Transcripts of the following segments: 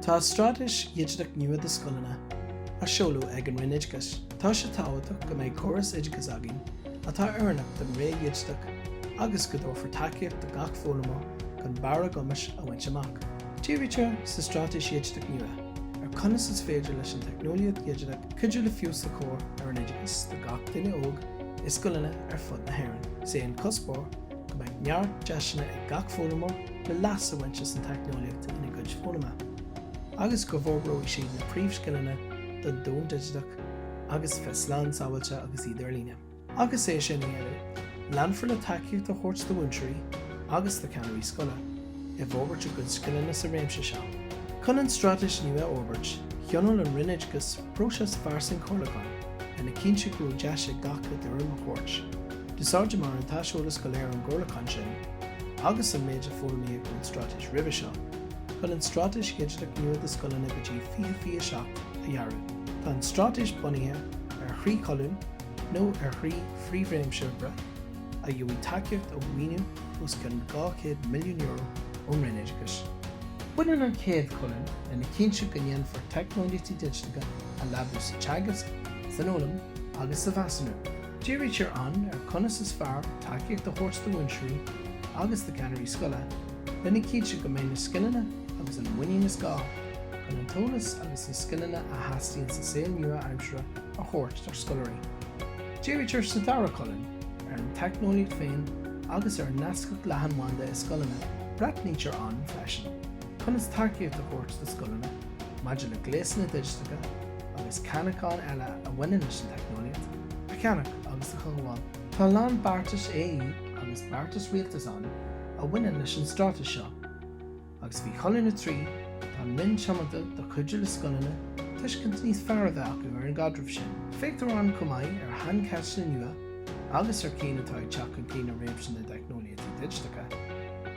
Tá Straitéis Dhigiteach Nua do Scoileanna á seoladh ag an Roinn Oideachais. Tá sé tábhachtach go mbeidh córas oideachais againn atá oiriúnach don ré dhigiteach agus go dtabharfar tacaíocht do gach foghlaimeoir chun barr a gcumais a bhaint amach. Dírítear sa Straitéis Dhigiteach Nua ar conas is féidir leis an teicneolaíocht dhigiteach cuidiú le feabhas a chur ar an oideachas do gach duine óg, i scoileanna ar fud na hÉireann. Is é an cuspóir go mbeidh neart deiseanna ag gach foghlaimeoir le leas a bhaint as an teicneolaíocht ina gcuid foghlama agus go bhforbróidh siad na príomhscileanna don domhan digiteach agus a bheith slán sábháilte agus iad ar líne. Agus é sin á dhéanamh, leanfar le tacaíocht a thabhairt do mhúinteoirí agus do cheannairí scoile, i bhforbairt a gcuid scileanna sa réimse seo. Chun an straitéis nua a fhorbairt, thionóil an Roinn Oideachais próiseas fairsing comhairliúcháin lena chinntiú go raibh deis ag gach duine a dtuairim a thabhairt. D'úsáideamar an t-aiseolas go léir ón gcomhairliúchán sin, agus an méid a foghlaimíodh ón straitéis roimhe seo, chun an straitéis dhigiteach nua do scoileanna go dtí 2027 a dhearadh. Tá an straitéis bunaithe ar thrí cholún, nó ar thrí phríomhréimse oibre, a gheobhaidh tacaíocht ó mhaoiniú os cionn €200 milliún ón Roinn Oideachais. Baineann an chéad cholún lena chinntiú go ndéanfar teicneolaíochtaí digiteacha a leabú sa teagasc, san fhoghlaim agus sa mheasúnú. Dírítear ann ar conas is fearr tacaíocht a thabhairt do mhúinteoirí agus do cheannairí scoile lena chinntiú go mbeidh na scileanna agus an mhuinín is gá chun an t-eolas agus na scileanna a theastaíonn sa saol nua-aimseartha a thabhairt dár scoláirí. Dírítear sa dara colún ar an teicneolaíocht féin agus ar an nascacht leathanbhanda i scoileanna. Breathnaítear ann freisin conas tacaíocht a thabhairt do scoileanna maidir le gléasanna digiteacha agus ceannacháin eile a bhaineann leis an teicneolaíocht a cheannach agus a chothabháil. Tá a lán beartais AE agus beartais Rialtais ann a bhaineann leis an Straitéis seo. agus faoi Cholún 3, tá an Roinn tiomanta do chuidiú le scoileanna tuiscint níos fearr a bheith acu ar an gcaidreamh sin. Féachtar ann chomh maith ar shaincheisteanna nua agus ar cinn atá ag teacht chun cinn i réimse na dteicneolaíochtaí digiteacha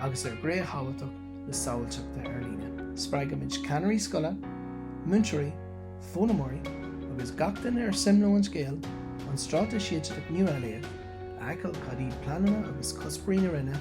agus ar ghné thábhachtach na sábháilteachta ar líne. Spreagaimid ceannairí scoile, múinteoirí, foghlaimeoirí agus gach duine ar suim leo an scéal an Straitéis Dhigiteach nua a léamh, a fheiceáil cad iad pleananna agus cuspóirí na Roinne,